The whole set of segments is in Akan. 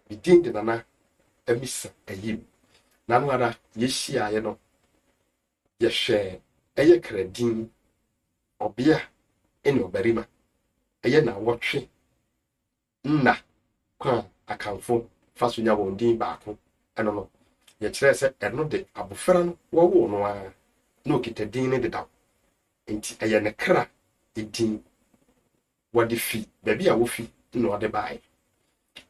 ne din de nana amisa ayim na no ara yɛhyiaeɛ no yɛhwɛɛ ɛyɛ kradin ɔbea ne ɔbarima ɛyɛ na wɔtwe nna kwan a akanfo fa so nya wɔn din baako ɛno no yɛkyerɛ sɛ ɛno de abofra no wɔwoo no ara na okita din no dedaw nti ɛyɛ ne kra edin Wɔde fi baabi a wofi na wɔde bae.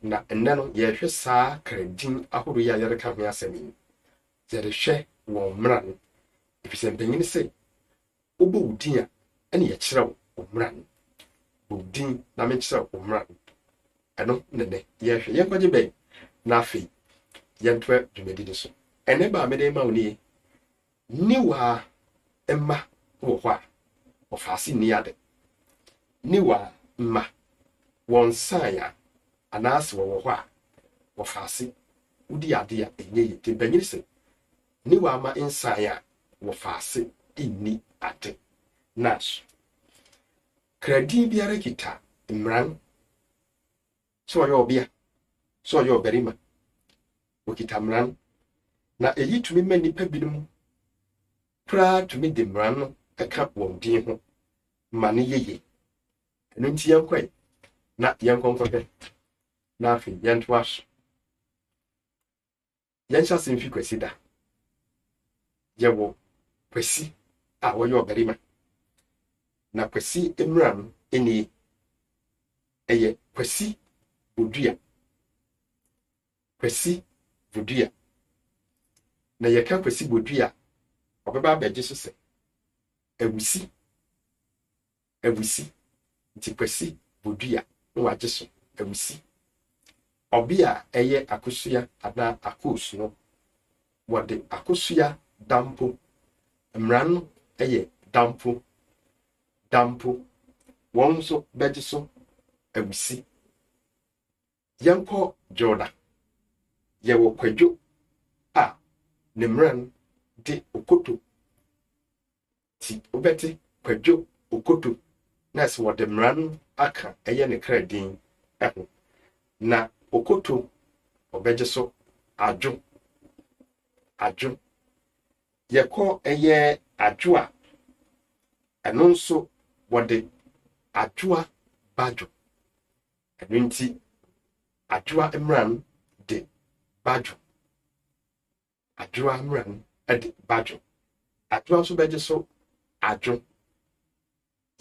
Na nnɛ no, yɛrehwɛ saa kra din ahorow yi a yɛreka ho asɛm yi no, yɛrehwɛ wɔn mmara no, efisɛ mpanyin se, Wobɔ wo din a, ɛne yɛkyerɛw wo mmara no. Bɔ wo din na menkyerɛw wo mmara no. Ɛno na nnɛ yɛrehwɛ. Yɛn nkwagye bɛn? Na afei, yɛntoa dwumadi no so. Ɛnnɛ ba a mede rema wo nie, Niwa mma wɔ hɔ a, wɔfa ase nni ade. Niwa mma, wɔnsae a, anaase wɔwɔ hɔ a, wɔfa ase wodi ade a ɛnyɛ yie. Nti mpanyin se, Niwa mma nsae a, wɔfa ase nni ade. Nanso, kradin biara kita mmara Sɛ ɔyɛ ɔbea, sɛ ɔyɛ ɔbarima, wokita mmara no, na eyi tumi ma nnipa binom koraa tumi de mmara no ka wɔn din ho ma no yɛ yie. Ɛno nti yɛnkɔ ɛ na yɛnkɔ nkɔhwɛ na afei yɛntoa so. Yɛnhyɛ ase mfi Kwasida. Yɛwɔ Kwasi a ɔyɛ ɔbarima, na Kwasi mmara no nie, ɛyɛ Kwasi Bodua. Kwasi Bodua. Na yɛka Kwasi Bodua a, ɔbɛba abɛgye so sɛ awusi. awusi nti Kwasi bodua na wagye so awusi. Ɔbea a ɛyɛ akosua anaa akos no, wɔde akosua dampo, mmara no yɛ dampo, dampo, wɔn nso bɛgye so awusi. Yɛnkɔ Dwoda. Yɛwɔ Kwadwo a ne mmara no de okoto Nti wobɛte Kwadwo Okoto na sɛ wɔde mmara no aka ɛyɛ ne kra din ho. Na Okoto ɔbɛgye so Adwo, Adwo. Yɛkɔ ɛyɛ Adwo a, ɛno nso wɔde Adwoa Badwo. Ɛno nti Adwoa mmara no de Badwo Adwoa mmra mu de badwo. Adwoa nso bɛgye so adwo.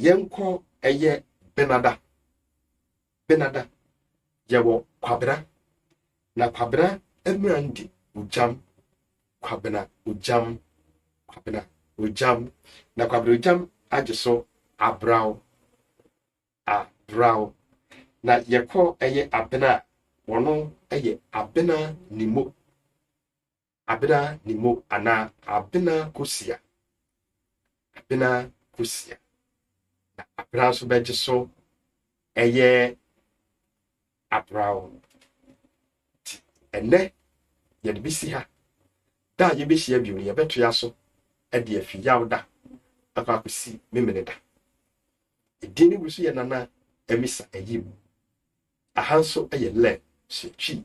Yɛnkɔ ɛyɛ benada. Benada yɛwɔ kwabena. Na kwabena mmra ndi ogyam. Kwabena ogyam. Kwabena ogyam. Na kwabena ogyam agye so abraw. a Brao na yɛkɔ ɛyɛ abena a wɔno ɛyɛ abena nimo abena nimo anaa abena kosia abena kosia na abena nso bɛgye so ɛyɛ abra wo. Nti ɛnnɛ yɛde bi si ha. Da a yɛbɛhyia bio no, yɛbɛtoa so de afi yaw da akɔ akɔsi memene da. Edin no bi so yɛ Nana Amisa Ayim. Aha nso yɛ lɛ hyɛ twi.